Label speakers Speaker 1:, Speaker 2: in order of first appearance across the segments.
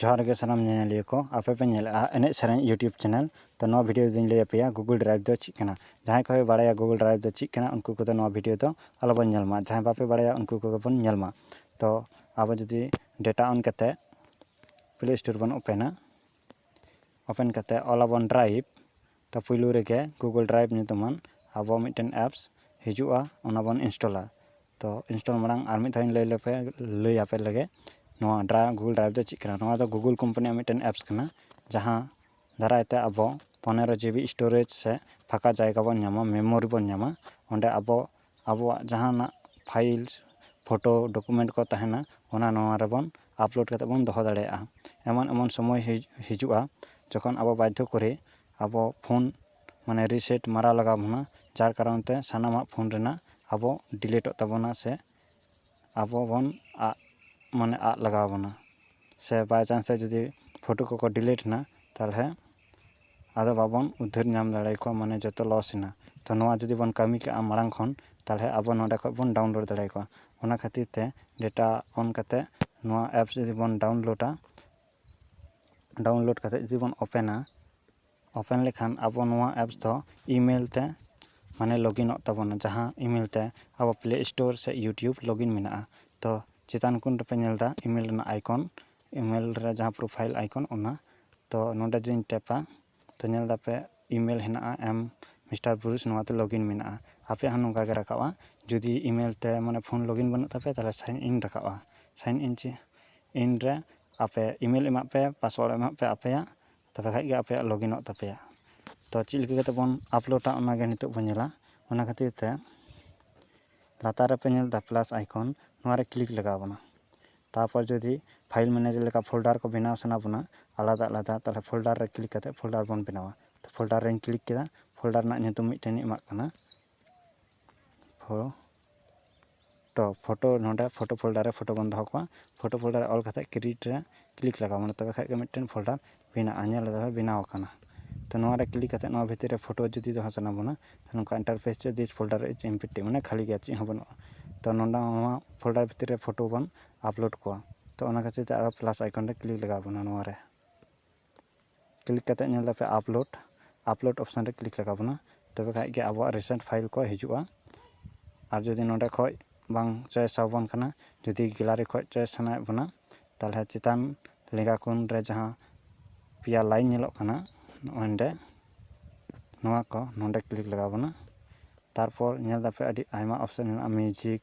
Speaker 1: ᱡᱚᱦᱟᱨ ᱜᱮ ᱥᱟᱱᱟᱢ ᱧᱮᱧᱮᱞᱤᱭᱟᱹ ᱠᱚ ᱟᱯᱮ ᱯᱮ ᱧᱮᱞᱮᱫᱼᱟ ᱮᱱᱮᱡ ᱥᱮᱨᱮᱧ ᱤᱭᱩᱴᱩᱵᱽ ᱪᱮᱱᱮᱞ ᱛᱚ ᱱᱚᱣᱟ ᱵᱷᱤᱰᱤᱭᱳ ᱨᱮᱫᱚᱧ ᱞᱟᱹᱭ ᱟᱯᱮᱭᱟ ᱜᱩᱜᱩᱞ ᱰᱨᱟᱭᱤᱵᱷ ᱫᱚ ᱪᱮᱫ ᱠᱟᱱᱟ ᱡᱟᱦᱟᱸᱭ ᱠᱚᱯᱮ ᱵᱟᱲᱟᱭᱟ ᱜᱩᱜᱩᱞ ᱰᱨᱟᱭᱤᱵᱷ ᱫᱚ ᱪᱮᱫ ᱠᱟᱱᱟ ᱩᱱᱠᱩ ᱠᱚᱫᱚ ᱱᱚᱣᱟ ᱵᱷᱤᱰᱤᱭᱳ ᱫᱚ ᱟᱞᱚ ᱵᱚᱱ ᱧᱮᱞ ᱢᱟ ᱡᱟᱦᱟᱸᱭ ᱵᱟᱯᱮ ᱵᱟᱲᱟᱭᱟ ᱩᱱᱠᱩ ᱠᱚᱜᱮ ᱵᱚᱱ ᱧᱮᱞ ᱢᱟ ᱛᱚ ᱟᱵᱚ ᱡᱩᱫᱤ ᱰᱮᱴᱟ ᱚᱱ ᱠᱟᱛᱮᱫ ᱯᱞᱮ ᱥᱴᱳᱨ ᱵᱚᱱ ᱳᱯᱮᱱᱟ ᱳᱯᱮᱱ ᱠᱟᱛᱮ ᱚᱞ ᱟᱵᱚᱱ ᱰᱨᱟᱭᱤᱵᱷ ᱛᱚ ᱯᱳᱭᱞᱳ ᱨᱮᱜᱮ ᱜᱩᱜᱳᱞ ᱰᱨᱟᱭᱤᱵᱷ ᱧᱩᱛᱩᱢᱟᱱ ᱟᱵᱚ ᱢᱤᱫᱴᱮᱱ ᱮᱯᱥ ᱦᱤᱡᱩᱜᱼᱟ ᱚᱱᱟ ᱵᱚᱱ ᱤᱱᱥᱴᱚᱞᱟ ᱛᱚ ᱤᱱᱥᱴᱚᱞ ᱢᱟᱲᱟᱝ ᱟᱨ ᱢᱤᱫ ᱫᱷᱟᱣ ᱤᱧ ᱞᱟᱹᱭ ᱞᱮᱯᱮ ᱞᱟᱹᱭ ᱟᱯᱮ ᱞᱮᱜᱮ ᱱᱚᱣᱟ ᱰᱨᱟ ᱜᱩᱜᱳᱞ ᱰᱨᱟᱭᱤᱵᱷ ᱫᱚ ᱪᱮᱫ ᱠᱟᱱᱟ ᱱᱚᱣᱟ ᱫᱚ ᱜᱩᱜᱳᱞ ᱠᱳᱢᱯᱟᱱᱤᱭᱟᱜ ᱢᱤᱫᱴᱮᱱ ᱮᱯᱥ ᱠᱟᱱᱟ ᱡᱟᱦᱟᱸ ᱫᱟᱨᱟᱭ ᱛᱮ ᱟᱵᱚ ᱯᱚᱱᱮᱨᱚ ᱡᱤᱵᱤ ᱥᱴᱳᱨᱮᱡᱽ ᱥᱮ ᱯᱷᱟᱸᱠᱟ ᱡᱟᱭᱜᱟ ᱵᱚᱱ ᱧᱟᱢᱟ ᱢᱮᱢᱳᱨᱤ ᱵᱚᱱ ᱧᱟᱢᱟ ᱚᱸᱰᱮ ᱟᱵᱚ ᱟᱵᱚᱣᱟᱜ ᱡᱟᱦᱟᱱᱟᱜ ᱯᱷᱟᱭᱤᱞ ᱯᱷᱳᱴᱳ ᱰᱚᱠᱳᱢᱮᱱᱴ ᱠᱚ ᱛᱟᱦᱮᱱᱟ ᱚᱱᱟ ᱱᱚᱣᱟ ᱨᱮᱵᱚᱱ ᱟᱯᱞᱳᱰ ᱠᱟᱛᱮᱫ ᱵᱚᱱ ᱫᱚᱦᱚ ᱫᱟᱲᱮᱭᱟᱜᱼᱟ ᱮᱢᱚᱱ ᱮᱢᱚᱱ ᱥᱚᱢᱚᱭ ᱦᱤᱡᱩᱜᱼᱟ ᱡᱚᱠᱷᱚᱱ ᱟᱵᱚ ᱵᱟᱫᱽᱫᱷᱚ ᱠᱚᱨᱮ ᱟᱵᱚ ᱯᱷᱳᱱ ᱢᱟᱱᱮ ᱨᱤᱥᱮᱴ ᱢᱟᱨᱟᱣ ᱞᱟᱜᱟᱣ ᱵᱚᱱᱟ ᱡᱟᱨ ᱠᱟᱨᱚᱱ ᱛᱮ ᱥᱟᱱᱟᱢᱟᱜ ᱯᱷᱳᱱ ᱨᱮᱱᱟᱜ ᱟᱵᱚ ᱰᱤᱞᱤᱴᱚᱜ ᱛᱟᱵᱚᱱᱟ ᱥᱮ ᱟᱵᱚ ᱵᱚᱱ ᱟᱫ ᱢᱟᱱᱮ ᱟᱫ ᱞᱟᱜᱟᱣ ᱵᱚᱱᱟ ᱥᱮ ᱵᱟᱭᱪᱟᱱᱥ ᱛᱮ ᱡᱩᱫᱤ ᱯᱷᱳᱴᱳ ᱠᱚᱠᱚ ᱰᱤᱞᱤᱴ ᱮᱱᱟ ᱛᱟᱦᱚᱞᱮ ᱟᱫᱚ ᱵᱟᱵᱚᱱ ᱩᱫᱷᱟᱹᱨ ᱧᱟᱢ ᱫᱟᱲᱮᱭᱟᱠᱚᱣᱟ ᱢᱟᱱᱮ ᱡᱚᱛᱚ ᱞᱚᱥ ᱮᱱᱟ ᱛᱚ ᱱᱚᱣᱟ ᱡᱩᱫᱤ ᱵᱚᱱ ᱠᱟᱹᱢᱤ ᱠᱟᱜᱼᱟ ᱢᱟᱲᱟᱝ ᱠᱷᱚᱱ ᱛᱟᱦᱚᱞᱮ ᱟᱵᱚ ᱱᱚᱰᱮ ᱠᱷᱚᱱ ᱵᱚᱱ ᱰᱟᱣᱩᱱᱞᱳᱰ ᱫᱟᱲᱮᱭᱟᱠᱚᱣᱟ ᱚᱱᱟ ᱠᱷᱟᱹᱛᱤᱨ ᱛᱮ ᱰᱮᱴᱟ ᱚᱱ ᱠᱟᱛᱮ ᱱᱚᱣᱟ ᱮᱯᱥ ᱡᱩᱫᱤ ᱵᱚᱱ ᱰᱟᱣᱩᱱᱞᱳᱰᱟ ᱰᱟᱣᱩᱱᱞᱳᱰ ᱠᱟᱛᱮ ᱡᱩᱫᱤ ᱵᱚᱱ ᱳᱯᱮᱱᱟ ᱳᱯᱮᱱ ᱞᱮᱠᱷᱟᱱ ᱟᱵᱚ ᱱᱚᱣᱟ ᱮᱯᱥ ᱫᱚ ᱤᱼᱢᱮᱞ ᱛᱮ ᱢᱟᱱᱮ ᱞᱚᱜᱤᱱᱚᱜ ᱛᱟᱵᱚᱱᱟ ᱡᱟᱦᱟᱸ ᱤᱼᱢᱮᱞ ᱛᱮ ᱟᱵᱚ ᱯᱞᱮ ᱥᱴᱳᱨ ᱥᱮ ᱤᱭᱩᱴᱩᱵᱽ ᱞᱚᱜᱤᱱ ᱢᱮᱱᱟᱜᱼᱟ ᱛᱚ ᱪᱮᱛᱟᱱ ᱠᱚᱱ ᱨᱮᱯᱮ ᱧᱮᱞ ᱮᱫᱟ ᱤᱢᱮᱞ ᱨᱮᱱᱟᱜ ᱟᱭᱠᱚᱱ ᱤᱢᱮᱞ ᱨᱮ ᱡᱟᱦᱟᱸ ᱯᱨᱳᱯᱷᱟᱭᱤᱞ ᱟᱭᱠᱚᱱ ᱚᱱᱟ ᱛᱚ ᱱᱚᱰᱮ ᱡᱮᱧ ᱴᱮᱯᱟ ᱛᱚ ᱧᱮᱞ ᱫᱟᱯᱮ ᱤᱢᱮᱞ ᱦᱮᱱᱟᱜᱼᱟ ᱮᱢ ᱢᱤᱥᱴᱟᱨ ᱵᱩᱨᱩᱥ ᱱᱚᱣᱟᱛᱮ ᱞᱚᱜᱽ ᱤᱱ ᱢᱮᱱᱟᱜᱼᱟ ᱟᱯᱮᱭᱟᱜ ᱦᱚᱸ ᱱᱚᱝᱠᱟ ᱜᱮ ᱨᱟᱠᱟᱵᱼᱟ ᱡᱩᱫᱤ ᱤᱢᱮᱞ ᱛᱮ ᱢᱟᱱᱮ ᱯᱷᱳᱱ ᱞᱚᱜᱽ ᱤᱱ ᱵᱟᱹᱱᱩᱜ ᱛᱟᱯᱮᱭᱟ ᱛᱟᱦᱚᱞᱮ ᱥᱟᱭᱤᱱ ᱤᱱ ᱨᱟᱠᱟᱵᱼᱟ ᱥᱟᱭᱤᱱ ᱤᱱ ᱪᱮᱫ ᱤᱱᱨᱮ ᱟᱯᱮ ᱤᱢᱮᱞ ᱮᱢᱟᱜ ᱯᱮ ᱯᱟᱥᱚᱣᱟᱨᱰ ᱮᱢᱟᱜ ᱯᱮ ᱟᱯᱮᱭᱟᱜ ᱛᱚᱵᱮ ᱠᱷᱟᱡ ᱜᱮ ᱟᱯᱮᱭᱟᱜ ᱞᱚᱜᱤᱱᱚᱜ ᱛᱟᱯᱮᱭᱟ ᱛᱚ ᱪᱮᱫ ᱞᱮᱠᱟ ᱠᱟᱛᱮ ᱵᱚᱱ ᱟᱯᱞᱳᱰᱟ ᱚᱱᱟ ᱜᱮ ᱱᱤᱛᱚᱜ ᱵᱚᱱ ᱧᱮᱞᱟ ᱚᱱᱟ ᱠᱷᱟᱹᱛᱤᱨ ᱛᱮ ᱞᱟᱛᱟᱨ ᱨᱮᱯᱮ ᱧᱮᱞ ᱮᱫᱟ ᱯᱞᱟᱥ ᱟᱭᱠᱚᱱ ᱱᱚᱣᱟ ᱨᱮ ᱠᱞᱤᱠ ᱞᱟᱜᱟᱣ ᱵᱚᱱᱟ ᱛᱟᱨᱯᱚᱨ ᱡᱩᱫᱤ ᱯᱷᱟᱭᱤᱞ ᱢᱮᱱᱮᱡᱟᱨ ᱞᱮᱠᱟ ᱯᱷᱳᱞᱰᱟᱨ ᱠᱚ ᱵᱮᱱᱟᱣ ᱥᱟᱱᱟ ᱵᱚᱱᱟ ᱟᱞᱟᱫᱟ ᱟᱞᱟᱫᱟ ᱛᱟᱦᱚᱞᱮ ᱯᱷᱳᱞᱰᱟᱨ ᱨᱮ ᱠᱞᱤᱠ ᱠᱟᱛᱮ ᱯᱷᱳᱞᱰᱟᱨ ᱵᱚᱱ ᱵᱮᱱᱟᱣᱟ ᱛᱚ ᱯᱷᱳᱞᱰᱟᱨ ᱨᱤᱧ ᱠᱞᱤᱠ ᱠᱮᱫᱟ ᱯᱷᱳᱞᱰᱟᱨ ᱨᱮᱱᱟᱜ ᱧᱩᱛᱩᱢ ᱢᱤᱫᱴᱮᱱᱤᱧ ᱮᱢᱟᱜ ᱠᱟᱱᱟ ᱯᱷᱳ ᱛᱚ ᱯᱷᱚᱴᱳ ᱱᱚᱸᱰᱮ ᱯᱷᱚᱴᱳ ᱯᱷᱳᱞᱰᱟᱨ ᱨᱮ ᱯᱷᱚᱴᱳ ᱵᱚᱱ ᱫᱚᱦᱚ ᱠᱚᱣᱟ ᱯᱷᱚᱴᱳ ᱯᱷᱳᱞᱰᱟᱨ ᱨᱮ ᱚᱞ ᱠᱟᱛᱮᱫ ᱠᱨᱤᱭᱮᱴ ᱨᱮ ᱠᱞᱤᱠ ᱞᱟᱜᱟᱣ ᱵᱚᱱᱟ ᱛᱚᱵᱮ ᱠᱷᱟᱱ ᱜᱮ ᱢᱤᱫᱴᱮᱱ ᱯᱷᱳᱞᱰᱟᱨ ᱵᱮᱱᱟᱜᱼᱟ ᱧᱮᱞ ᱫᱟᱵᱮᱱ ᱵᱮᱱᱟᱣ ᱟᱠᱟᱱᱟ ᱛᱚ ᱱᱚᱣᱟ ᱨᱮ ᱠᱞᱤᱠ ᱠᱟᱛᱮᱫ ᱱᱚᱣᱟ ᱵᱷᱤᱛᱤᱨ ᱨᱮ ᱯᱷᱚᱴᱳ ᱡᱩᱫᱤ ᱫᱚᱦᱚ ᱥᱟᱱᱟ ᱵᱚᱱᱟ ᱱᱚᱝᱠᱟ ᱤᱱᱴᱟᱨᱯᱷᱮᱥ ᱨᱮ ᱫᱤᱥ ᱯᱷᱳᱞᱰᱟᱨ ᱤᱡᱽ ᱮᱢᱯᱴᱤ ᱢᱟᱱᱮ ᱠᱷᱟᱹᱞᱤ ᱜᱮᱭᱟ ᱪᱮᱫ ᱦᱚᱸ ᱵᱟᱹᱱᱩᱜᱼᱟ ᱛᱚ ᱱᱚᱸᱰᱮ ᱦᱚᱸ ᱱᱚᱣᱟ ᱯᱷᱳᱞᱰᱟᱨ ᱵᱷᱤᱛᱤᱨ ᱨᱮ ᱯᱷᱚᱴᱳ ᱵᱚᱱ ᱟᱯᱞᱳᱰ ᱠᱚᱣᱟ ᱛᱚ ᱚᱱᱟ ᱠᱷᱟᱹᱛᱤᱨ ᱛᱮ ᱟᱨᱚ ᱯᱞᱟᱥ ᱟᱭᱠᱚᱱ ᱨᱮ ᱠᱞᱤᱠ ᱞᱟᱜᱟᱣ ᱵᱚᱱᱟ ᱱᱚᱣᱟ ᱨᱮ ᱠᱞᱤᱠ ᱠᱟᱛᱮᱫ ᱧᱮᱞ ᱫᱟᱯᱮ ᱟᱯᱞᱳᱰ ᱟᱯᱞᱳᱰ ᱚᱯᱥᱮᱱ ᱨᱮ ᱠᱞᱤᱠ ᱞᱟᱜᱟᱣ ᱵᱚᱱᱟ ᱛᱚᱵᱮ ᱠᱷᱟᱱ ᱜᱮ ᱟᱵᱚᱣᱟᱜ ᱨᱤᱥᱮᱱᱴ ᱯᱷᱟᱭᱤᱞ ᱠᱚ ᱦᱤᱡᱩᱜᱼᱟ ᱟᱨ ᱡᱩᱫᱤ ᱱᱚᱰᱮ ᱠᱷᱚᱱ ᱵᱟᱝ ᱪᱚᱭᱮᱥ ᱟᱵᱚᱱ ᱠᱟᱱᱟ ᱡᱩᱫᱤ ᱜᱮᱞᱟᱨᱤ ᱠᱷᱚᱱ ᱪᱚᱭᱮᱥ ᱥᱟᱱᱟᱭᱮᱫ ᱵᱚᱱᱟ ᱛᱟᱦᱚᱞᱮ ᱪᱮᱛᱟᱱ ᱞᱮᱸᱜᱟ ᱠᱳᱱ ᱨᱮ ᱡᱟᱦᱟᱸ ᱯᱮᱭᱟ ᱞᱟᱭᱤᱱ ᱧᱮᱞᱚᱜ ᱠᱟᱱᱟ ᱚᱸᱰᱮ ᱱᱚᱣᱟ ᱠᱚ ᱱᱚᱰᱮ ᱠᱞᱤᱠ ᱞᱟᱜᱟᱣ ᱵᱚᱱᱟ ᱛᱟᱨᱯᱚᱨ ᱧᱮᱞ ᱫᱟᱯᱮ ᱟᱹᱰᱤ ᱟᱭᱢᱟ ᱚᱯᱥᱮᱱ ᱢᱮᱱᱟᱜᱼᱟ ᱢᱤᱭᱩᱡᱤᱠ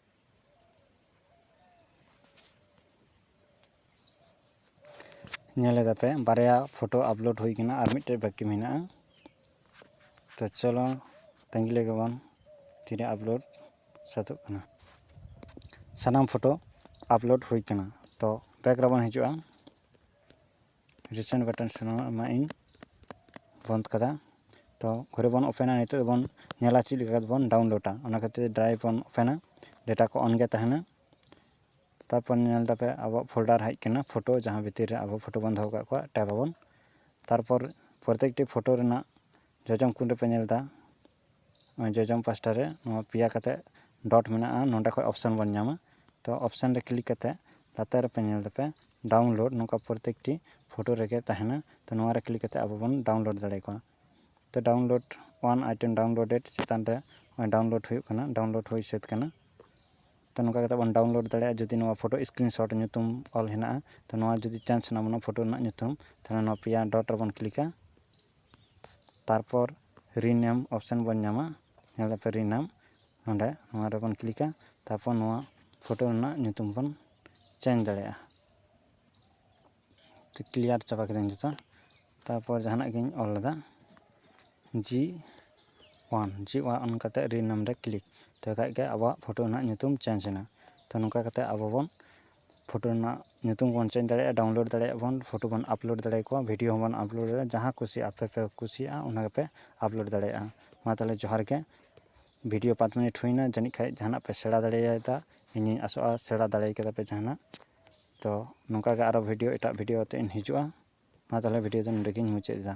Speaker 1: ᱧᱮᱞ ᱮᱫᱟᱯᱮ ᱵᱟᱨᱭᱟ ᱯᱷᱚᱴᱳ ᱟᱯᱞᱳᱰ ᱦᱩᱭ ᱠᱟᱱᱟ ᱟᱨ ᱢᱤᱫᱴᱮᱡ ᱵᱟᱹᱠᱤ ᱢᱮᱱᱟᱜᱼᱟ ᱛᱚ ᱪᱚᱞᱚ ᱛᱟᱺᱜᱤ ᱞᱮᱜᱮ ᱵᱚᱱ ᱛᱤᱨᱮ ᱟᱯᱞᱳᱰ ᱥᱟᱹᱛᱚᱜ ᱠᱟᱱᱟ ᱥᱟᱱᱟᱢ ᱯᱷᱚᱴᱳ ᱟᱯᱞᱳᱰ ᱦᱩᱭ ᱠᱟᱱᱟ ᱛᱚ ᱵᱮᱠ ᱨᱮᱵᱚᱱ ᱦᱤᱡᱩᱜᱼᱟ ᱨᱤᱥᱮᱱᱴ ᱵᱟᱴᱚᱱ ᱥᱮ ᱱᱚᱣᱟ ᱮᱢᱟᱜ ᱤᱧ ᱵᱚᱱᱫᱽ ᱠᱟᱫᱟ ᱛᱚ ᱜᱷᱩᱨᱮ ᱵᱚᱱ ᱳᱯᱮᱱᱟ ᱱᱤᱛᱚᱜ ᱵᱚᱱ ᱧᱮᱞᱟ ᱪᱮᱫ ᱞᱮᱠᱟ ᱠᱟᱛᱮᱫ ᱵᱚᱱ ᱰᱟᱣᱩᱱᱞᱳᱰᱟ ᱚᱱᱟ ᱠᱷᱟᱹᱛᱤᱨ ᱰᱨᱟᱭᱤᱵᱽ ᱵᱚᱱ ᱳᱯᱮᱱᱟ ᱰᱮᱴᱟ ᱠᱚ ᱚᱱ ᱜᱮ ᱛᱟᱦᱮᱱᱟ ᱛᱟᱨᱯᱚᱨ ᱧᱮᱞ ᱫᱟᱯᱮ ᱟᱵᱚᱣᱟᱜ ᱯᱷᱳᱞᱰᱟᱨ ᱦᱮᱡ ᱠᱟᱱᱟ ᱯᱷᱳᱴᱳ ᱡᱟᱦᱟᱸ ᱵᱷᱤᱛᱤᱨ ᱨᱮ ᱟᱵᱚ ᱯᱷᱳᱴᱳ ᱵᱚᱱ ᱫᱚᱦᱚ ᱠᱟᱜ ᱠᱚᱣᱟ ᱴᱮᱯ ᱟᱵᱚᱱ ᱛᱟᱨᱯᱚᱨ ᱯᱨᱚᱛᱮᱠᱴᱤ ᱯᱷᱳᱴᱳ ᱨᱮᱱᱟᱜ ᱡᱚᱡᱚᱢ ᱠᱚᱱ ᱨᱮᱯᱮ ᱧᱮᱞᱫᱟ ᱡᱚᱡᱚᱢ ᱯᱟᱥᱴᱟ ᱨᱮ ᱱᱚᱣᱟ ᱯᱮᱭᱟ ᱠᱟᱛᱮ ᱰᱚᱴ ᱢᱮᱱᱟᱜᱼᱟ ᱱᱚᱸᱰᱮ ᱠᱷᱚᱡ ᱚᱯᱥᱮᱱ ᱵᱚᱱ ᱧᱟᱢᱟ ᱛᱚ ᱚᱯᱥᱮᱱ ᱨᱮ ᱠᱞᱤᱠ ᱠᱟᱛᱮ ᱞᱟᱛᱟᱨ ᱨᱮᱯᱮ ᱧᱮᱞ ᱫᱟᱯᱮ ᱰᱟᱣᱩᱱᱞᱳᱰ ᱱᱚᱝᱠᱟ ᱯᱨᱚᱛᱮᱠᱴᱤ ᱯᱷᱳᱴᱳ ᱨᱮᱜᱮ ᱛᱟᱦᱮᱱᱟ ᱛᱚ ᱱᱚᱣᱟ ᱨᱮ ᱠᱞᱤᱠ ᱠᱟᱛᱮ ᱟᱵᱚ ᱵᱚᱱ ᱰᱟᱣᱩᱱᱞᱳᱰ ᱫᱟᱲᱮ ᱠᱚᱣᱟ ᱛᱚ ᱰᱟᱣᱩᱱᱞᱳᱰ ᱚᱣᱟᱱ ᱟᱭᱴᱮᱢ ᱰᱟᱣᱩᱱᱞᱳᱰᱮᱰ ᱪᱮᱛᱟᱱ ᱨᱮ ᱰᱟᱣᱩᱱᱞᱳᱰ ᱦᱩᱭᱩᱜ ᱠᱟᱱᱟ ᱰᱟᱣᱩᱱᱞᱳᱰ ᱦᱩᱭ ᱥᱟᱹᱛ ᱠᱟᱱᱟ ᱛᱚ ᱱᱚᱝᱠᱟ ᱠᱟᱛᱮ ᱵᱚᱱ ᱰᱟᱣᱩᱱᱞᱳᱰ ᱫᱟᱲᱮᱭᱟᱜᱼᱟ ᱡᱩᱫᱤ ᱱᱚᱣᱟ ᱯᱷᱳᱴᱳ ᱥᱠᱨᱤᱱ ᱥᱚᱴ ᱧᱩᱛᱩᱢ ᱚᱞ ᱦᱮᱱᱟᱜᱼᱟ ᱛᱚ ᱱᱚᱣᱟ ᱡᱩᱫᱤ ᱪᱮᱧᱡᱽ ᱥᱟᱱᱟ ᱵᱚᱱᱟ ᱯᱷᱳᱴᱳ ᱨᱮᱱᱟᱜ ᱧᱩᱛᱩᱢ ᱛᱟᱦᱚᱞᱮ ᱱᱚᱣᱟ ᱯᱮᱭᱟ ᱰᱚᱴ ᱨᱮᱵᱚᱱ ᱠᱞᱤᱠᱟ ᱛᱟᱨᱯᱚᱨ ᱨᱤᱱᱮᱢ ᱚᱯᱥᱮᱱ ᱵᱚᱱ ᱧᱟᱢᱟ ᱧᱮᱞ ᱫᱟᱯᱮ ᱨᱤᱱᱮᱢ ᱱᱚᱸᱰᱮ ᱱᱚᱣᱟ ᱨᱮᱵᱚᱱ ᱠᱞᱤᱠᱟ ᱛᱟᱨᱯᱚᱨ ᱱᱚᱣᱟ ᱯᱷᱳᱴᱳ ᱨᱮᱱᱟᱜ ᱧᱩᱛᱩᱢ ᱵᱚᱱ ᱪᱮᱧᱡᱽ ᱫᱟᱲᱮᱭᱟᱜᱼᱟ ᱠᱞᱤᱭᱟᱨ ᱪᱟᱵᱟ ᱠᱤᱫᱟᱹᱧ ᱡᱚᱛᱚ ᱛᱟᱨᱯᱚᱨ ᱡᱟᱦᱟᱱᱟᱜ ᱜᱤᱧ ᱚᱞ ᱞᱮᱫᱟ ᱡᱤ ᱚᱣᱟᱱ ᱡᱤ ᱚᱣᱟᱱ ᱠᱟᱛᱮ ᱨᱤᱱᱮᱢ ᱨᱮ ᱠᱞᱤᱠ ᱛᱚᱵᱮ ᱠᱷᱟᱡ ᱜᱮ ᱟᱵᱚᱣᱟᱜ ᱯᱷᱳᱴᱳ ᱨᱮᱱᱟᱜ ᱧᱩᱛᱩᱢ ᱪᱮᱧᱡᱽ ᱮᱱᱟ ᱛᱚ ᱱᱚᱝᱠᱟ ᱠᱟᱛᱮ ᱟᱵᱚ ᱵᱚᱱ ᱯᱷᱳᱴᱳ ᱨᱮᱱᱟᱜ ᱧᱩᱛᱩᱢ ᱵᱚᱱ ᱪᱮᱧᱡᱽ ᱫᱟᱲᱮᱭᱟᱜᱼᱟ ᱰᱟᱣᱩᱱᱞᱳᱰ ᱫᱟᱲᱮᱭᱟᱜ ᱵᱚᱱ ᱯᱷᱳᱴᱳ ᱵᱚᱱ ᱟᱯᱞᱳᱰ ᱫᱟᱲᱮ ᱠᱚᱣᱟ ᱵᱷᱤᱰᱤᱭᱳ ᱦᱚᱸᱵᱚᱱ ᱟᱯᱞᱳᱰ ᱫᱟᱲᱮᱭᱟᱜᱼᱟ ᱡᱟᱦᱟᱸ ᱠᱩᱥᱤ ᱟᱯᱮ ᱯᱮ ᱠᱩᱥᱤᱭᱟᱜᱼᱟ ᱚᱱᱟ ᱜᱮᱯᱮ ᱟᱯᱞᱳᱰ ᱫᱟᱲᱮᱭᱟᱜᱼᱟ ᱢᱟ ᱛᱟᱦᱚᱞᱮ ᱡᱚᱦᱟᱨ ᱜᱮ ᱵᱷᱤᱰᱤᱭᱳ ᱯᱟᱸᱪ ᱢᱤᱱᱤᱴ ᱦᱩᱭᱱᱟ ᱡᱟᱹᱱᱤᱡ ᱠᱷᱟᱡ ᱡᱟᱦᱟᱱᱟᱜ ᱯᱮ ᱥᱮᱬᱟ ᱫᱟᱲᱮᱭᱟᱫᱟ ᱤᱧᱤᱧ ᱟᱥᱚᱜᱼᱟ ᱥᱮᱬᱟ ᱫᱟᱲᱮ ᱠᱟᱫᱟ ᱯᱮ ᱡᱟᱦᱟᱱᱟᱜ ᱛᱚ ᱱᱚᱝᱠᱟ ᱜᱮ ᱟᱨᱚ ᱵᱷᱤᱰᱤᱭᱳ ᱮᱴᱟᱜ ᱵᱷᱤᱰᱤᱭᱳ ᱟᱛᱮᱫ ᱤᱧ ᱦᱤᱡᱩᱜᱼᱟ ᱢᱟ ᱛᱟᱦᱚᱞᱮ ᱵᱷᱤᱰᱤᱭᱳ ᱫᱚ ᱱᱚᱰᱮ ᱜᱤᱧ ᱢᱩᱪᱟᱹᱫ ᱮᱫᱟ